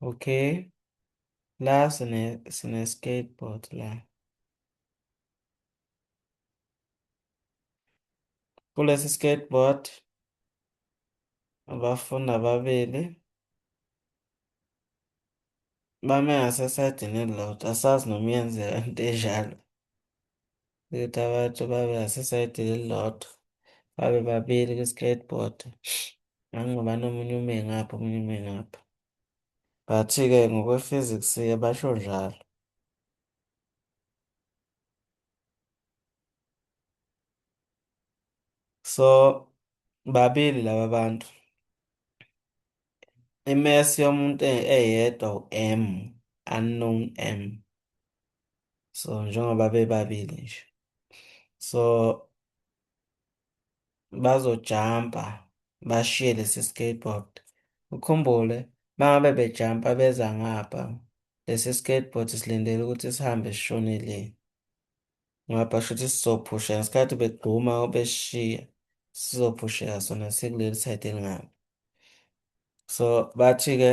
Okay. La sine sine skateboard la. Kulesi skateboard abafundi ababili bame ngasesaydini elilodwa asazi noma iyenzeka into enjalo. ukuthi abantu babe ngasesayidini elilodwa babe babili kwi-skateboard ngangoba nomunye ume ngapha omunye ume ngapha but-ke ngokwe-physics-ke basho njalo so babili laba bantu imesi yomuntu e-, eyedwa u-m unknown m so njengoba bebabili nje so bazojampa bashiye lesi skateboard ukhumbule mangabe bejampa beza ngapha lesi skateboard silindele ukuthi sihambe sishone le ngapha shuthi sizophusha ngesikhathi begxuma beshiya sizophusheka sona sikuleli side elingapha so bathi-ke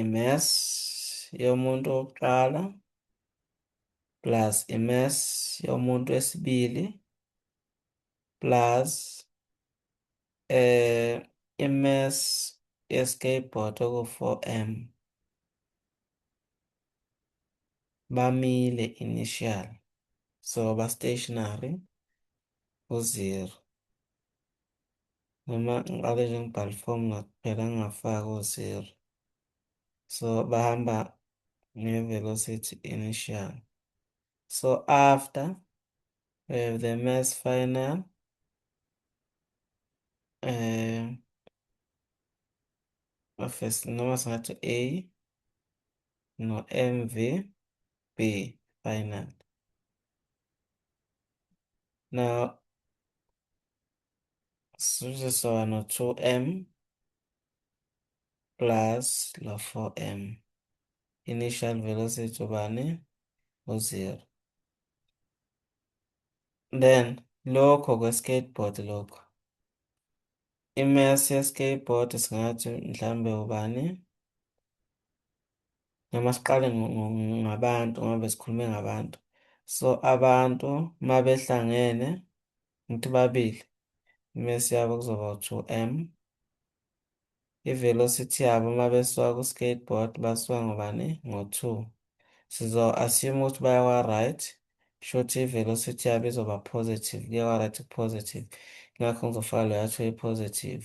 imass yomuntu wokuqala plus imass yomuntu wesibili plus eh imass yeskateboard oku-4m bamile initial so ba-stationary u-zero noma ngiqale nje ngibhale ifomu ngakuphela ngingafaki o-zero so bahamba nge-velocity initial so after we have the mass final um of a noma singathi a no-mv B final. Now, sizosona 2m plus la 4m. Initial velocity ubani? U-0. Then, lokho kwe-skateboard lokho. I-mass ye-skateboard singathi mhlambe ubani? noma siqale ngabantu ngoba besikhulume ngabantu so abantu uma behlangene ngithi babili imesi yabo kuzoba u-two m i-velocity yabo uma besuka ku-skateboard basuka ngobani ngo-two sizo-assume ukuthi bayakwa-right shuthi i-velocity yabo izoba positive kuye kwa-right ku-positive ngakho ngizofaka leyo athiwe i-positive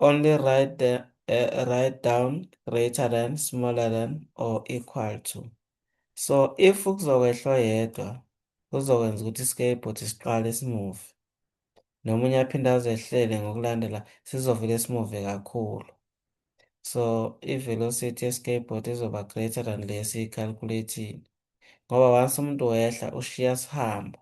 Only write the uh, write down greater than, smaller than or equal to. So if kuzokwehlwa yedwa kuzokwenza ukuthi iskeyboard siqale simove. Nomunye aphinde azehlele ngokulandela sizovele simove kakhulu. So i-velocity ye-skateboard izoba greater than lesi i-calculating. Ngoba once umuntu wehla ushiya sihamba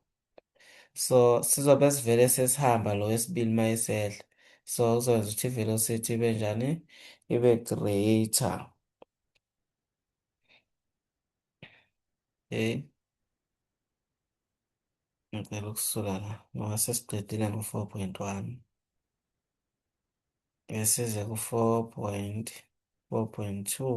so sizobe sivele sesihamba lo wesibili uma esehla so kuzokwenza ukuthi i-velocity ibe njani ibe greater okay ngicela ukusuka la ngoba sesiqedile ngo-four point one besize ku-four point four point two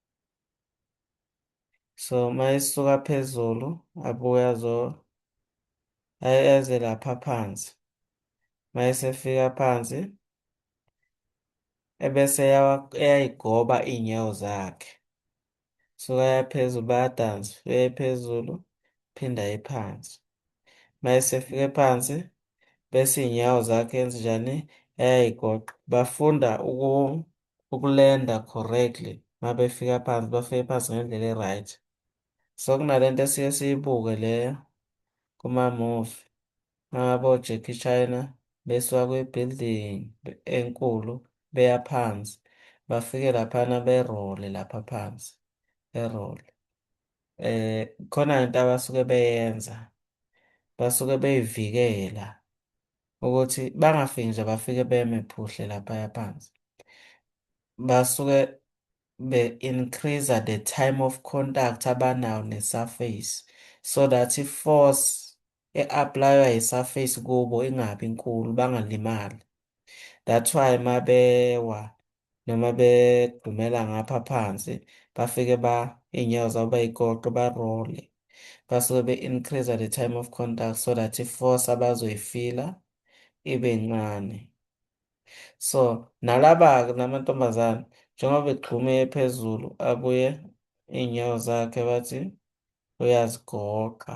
so uma esuka phezulu abuye azo eze lapha phansi uma esefika phansi ebese eyayigoba iy'nyawo zakhe suka yaphezulu bayadansa uye phezulu phinda ephansi uma esefike phansi bese iy'nyawo zakhe enze njani eyayigoqa bafunda ukulenda correctly uma befika phansi bafike phansi ngendlela e-right so kunalento esiye siyibuke le kuma-movie uma ngabe oJackie China besuka kwi-building enkulu beya phansi bafike laphana berole lapha phansi berole eh khona into abasuke beyenza basuke beyivikela ukuthi bangafiki nje bafike beme phuhle laphaya phansi basuke be-increase the time of contact abanawo ne-surface so that i-force e-aplaywa yi-surface kubo ingabi nkulu bangalimali that's why mabewa noma bedumela ngapha phansi bafike ba iy'nyawo zabo bayikoqe barole basuke be-increase the time of contact so that i-force abazoyifila ibe ncane so nalaba-ke namantombazane njengoba begxume phezulu abuye iy'nyawo zakhe bathi uyazigoqa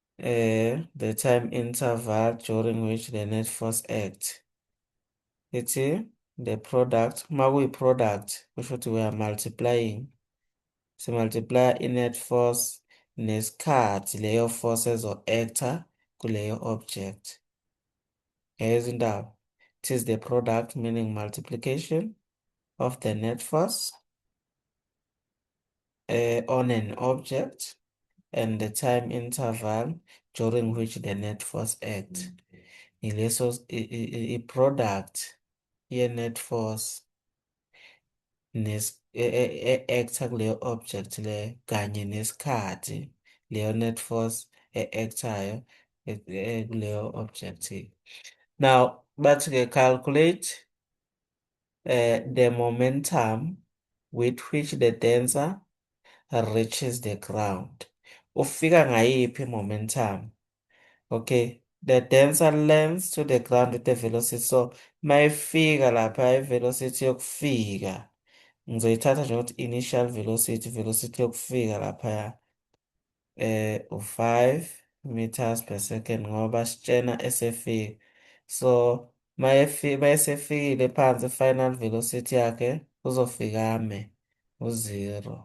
uh, the time interval during which the net force act ithi the product uma kuyi-product kusho ukuthi we are multiplying simultiplya i-net force nesikhathi leyo force ezo-actor kuleyo object ngeyezindaba it is the product meaning multiplication of the net force uh, on an object and the time interval during which the net force acts. Ileso i-product ye-net force nes e-acta kuleyo object le kanye nesikhathi leyo net force e-actayo kuleyo object. Now bathi-ke calculate uh, the momentum with which the dancer reaches the ground. Ufika ngayiphi momentum? Okay, the dancer lands to the ground with the velocity. So mayifika lapha i-velocity yokufika ngizoyithatha njengokuthi initial velocity, velocity yokufika laphaya. eh u-5 meters per second ngoba sitshena esefika so mayesefikile phansi final velocity yakhe uzofikame u-0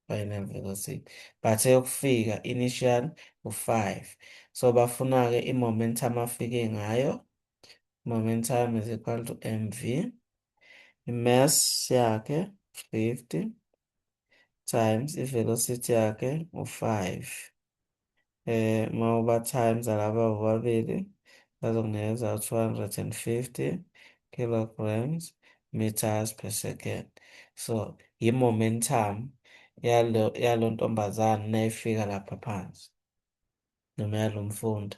final velocity but eyokufika initial u-5 so bafuna-ke i-momentum afike ngayo momentum is equal to mv i-mass yakhe 50 times i-velocity yakhe u-five um eh, uma uba times alaba bobabili bazokunikeza u-two hundred and fifty kilograms meters per second so yi-momentum yalo yalo ntombazane nayifika lapha phansi noma yalo mfundi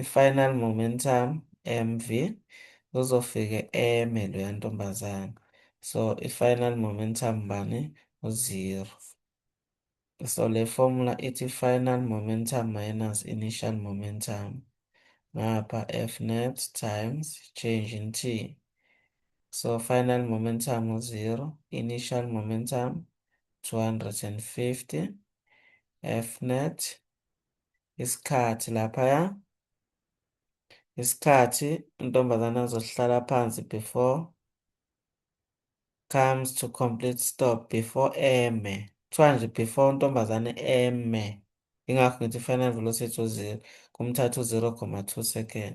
i-final momentum, mv, uzofike eme loya ntombazane. So, i-final momentum bani? U-zero. So, le formula ithi final momentum minus initial momentum. Ngapha F net times change in T. So, final momentum u-zero, initial momentum 250, F net isikhathi laphaya isikhathi intombazane azohlala phansi before comes to complete stop before eme kuthiwa nje before intombazane eme ingakho ngithi final velocity uzero kumthatha u-0 comma 2 second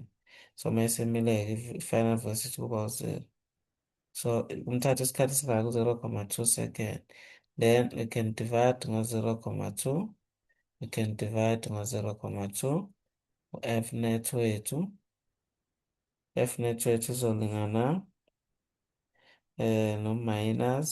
so uma isemileke i-final velocity kuba uzero So kumthatha isikhathi esingaka u-0,2 second. Then we can divide ngo-0,2. We can divide ngo-0,2. U-F net wethu. F net wethu izolingana eh, no-minus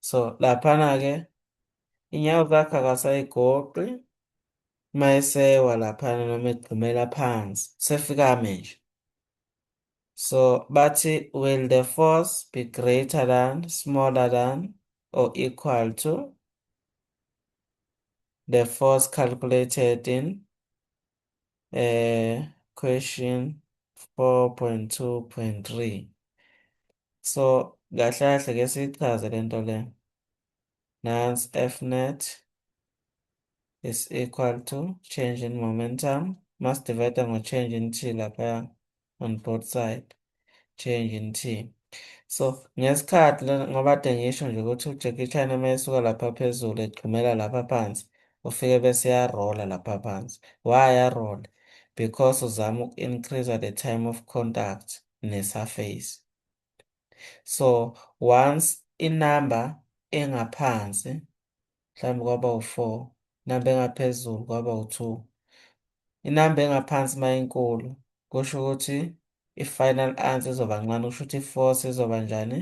so laphana-ke inyawo zakhe akasayigoqi uma esewa laphana noma egxumela phansi sefika ame nje so bathi will the force be greater than smaller than or equal to the force calculated in eh question 4.2.3 so kahle kahle ke sichaze lento le nans f net is equal to change in momentum mas divide ngo change in t lapha on both side change in team so ngesikhathi ngoba de ngisho nje ukuthi uJackie Chan uma esuka lapha phezulu egxumela lapha phansi ufike bese yarola lapha phansi why yarola because uzama uku-increase the time of contact ne-surface so once inumber engaphansi mhlawumbe kwaba u-four, inamba engaphezulu kwaba u-two. Inamba engaphansi uma inkulu kusho ukuthi i-final answer izoba ncane, kusho ukuthi i-force izoba njani?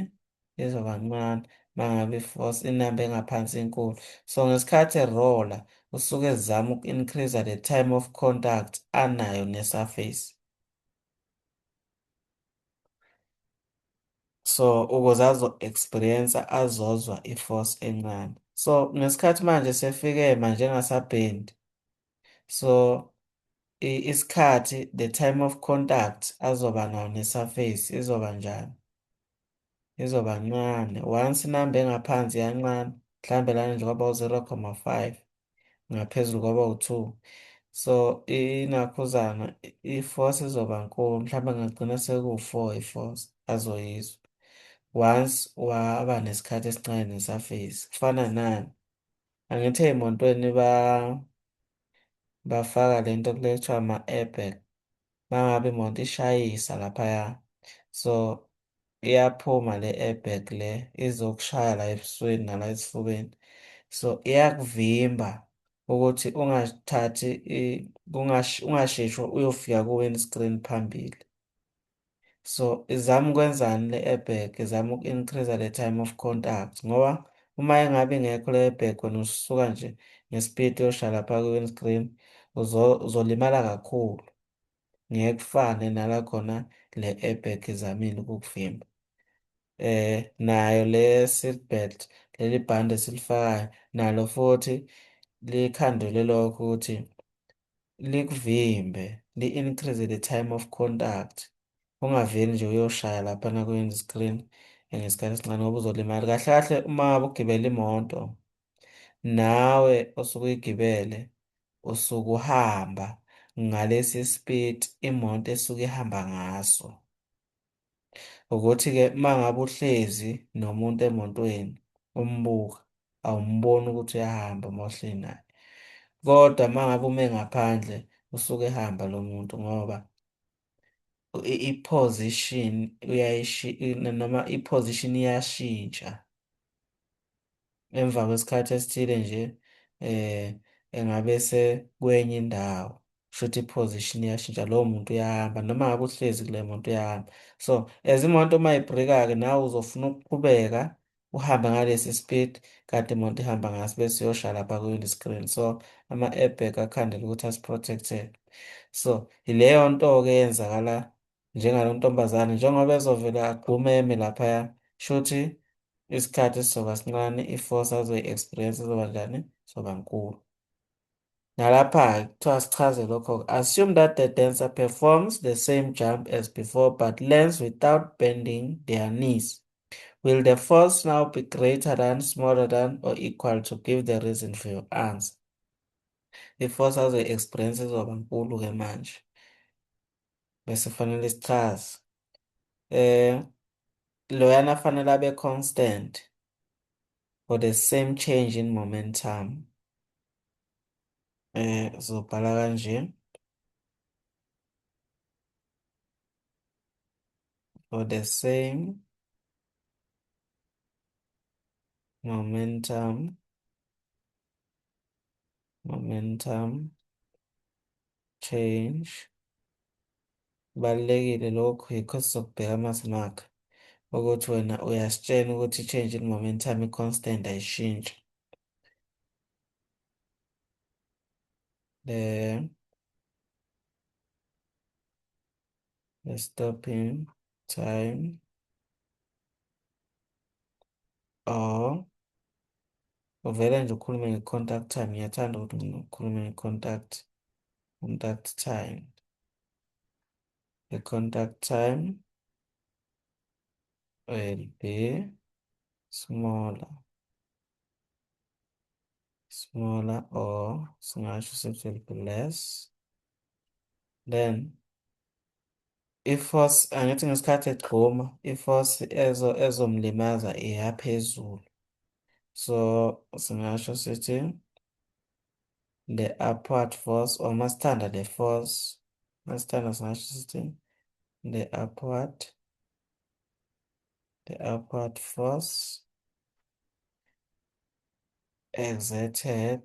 Izoba ncane uma ngabe i-force inamba engaphansi inkulu. So ngesikhathi erola usuke ezama uku-increase the time of contact anayo ne-surface. so ukuze azo-experience azozwa i-force encane so ngesikhathi manje sefike manje engasabhendi so isikhathi the time of contact azoba nawo ne-surface izoba njani izoba ncane once inamba engaphansi yancane mhlawumbe lana nje kwaba u-0,5 ngaphezulu kwaba u-2 so inakhuzana i-force izoba nkulu mhlawumbe ngagcina sekuwu-4 i-force azoyizwa once waba nesikhathi esincane nesurface kufana nani angithi ey'montweni ba bafaka le nto kuthiwa ama-airbag mangabe imoto ishayisa laphaya so iyaphuma le airbag le izokushaya la ebusweni nala esifubeni so iyakuvimba ukuthi ungathathi ungasheshi uyofika ku-windscreen phambili So izama ukwenzani le airbag, izama uku-increase the time of contact ngoba uma engabe ingekho le airbag wena usuka nje ngespeed uyoshaya lapha kwi-windscreen uzolimala kakhulu. Ngeke kufane nala khona le airbag izamile ukukuvimba. Eh nayo le seat belt leli bhande esilifakayo nalo futhi likhandule lokho ukuthi likuvimbe li-increase the time of contact ungaveli nje uyoshaya laphana kwi-end screen ngesikhathi esincane ngoba uzolimala kahle kahle uma ugibela imoto nawe osuke uyigibele usuke uhamba ngalesi speed imoto esuke ihamba ngaso ukuthi-ke uma ngabe uhlezi nomuntu emotweni umbuka awumboni ukuthi uyahamba uma uhleli naye kodwa uma ngabe ume ngaphandle usuke ehamba lo muntu ngoba i-position noma i-position iyashintsha. emva kwesikhathi esithile nje eh engabe sekwenye indawo shuthi i-position iyashintsha lowo muntu uyahamba noma ngabe uhlezi kule muntu uyahamba so as imoto uma ibhrika-ke nawe uzofuna ukuqhubeka uhambe ngalesi speed kanti imoto ihamba ngaso bese uyosha lapha kwi-windscreen so ama-airbag akhandela ukuthi asi-protect-e so yileyo nto-ke eyenzakala njengalo ntombazane njengoba ezovele agqume eme laphaya shuthi isikhathi sizoba sincane i-force azoyi-experience izoba njani zoba nkulu nalapha kuthiwa sichaze lokho assume that the dancer performs the same jump as before but lands without bending their knees will the force now be greater than smaller than or equal to give the reason for your answer i-force azoyi-experience izoba nkulu-ke manje bese fanele sichaze eh loyana fanele abe constant for the same change in momentum eh zobhala kanje for the same momentum momentum change kubalulekile lokhu yikho sizokubheka uma simakha ukuthi wena uyasitshena ukuthi i-change in momentum i-constant ayishintshi then the stopping time or uvele nje ukhulume nge-contact time ngiyathanda ukuthi mina ukhulume nge-contact contact time the contact time will be smaller smaller or singasho sithi will be less then i-force angithi ngesikhathi egxuma i-force ezo ezomlimaza iya phezulu so singasho sithi the upward force or masithanda le force masithanda singasho sithi the upward the upward force exerted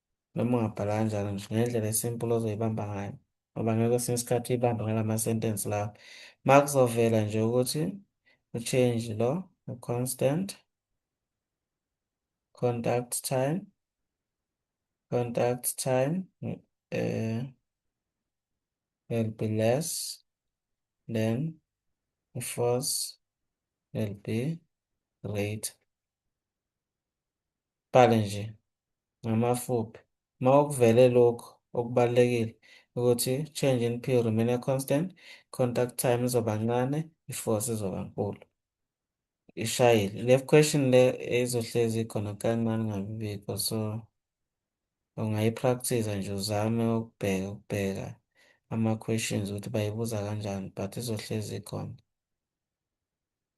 noma ungabhala kanjalo nje ngendlela esimple ozoyibamba ngayo ngoba ngeke kwesinye isikhathi uyibambe ngalama sentence lawo ma kuzovela nje ukuthi u-change lo u-constant contact time contact time uh, will be less than the force will be greater Qale nje ngamafuphi uma ukuvele lokhu okubalulekile ukuthi change in P remain a constant, contact time izoba ncane, i-force izoba nkulu. Ishayile. Le question le izohlezi ikhona kancane ngabibikho so ungayipractice nje uzame ukubheka ukubheka ama-questions ukuthi bayibuza kanjani but izohlezi ikhona.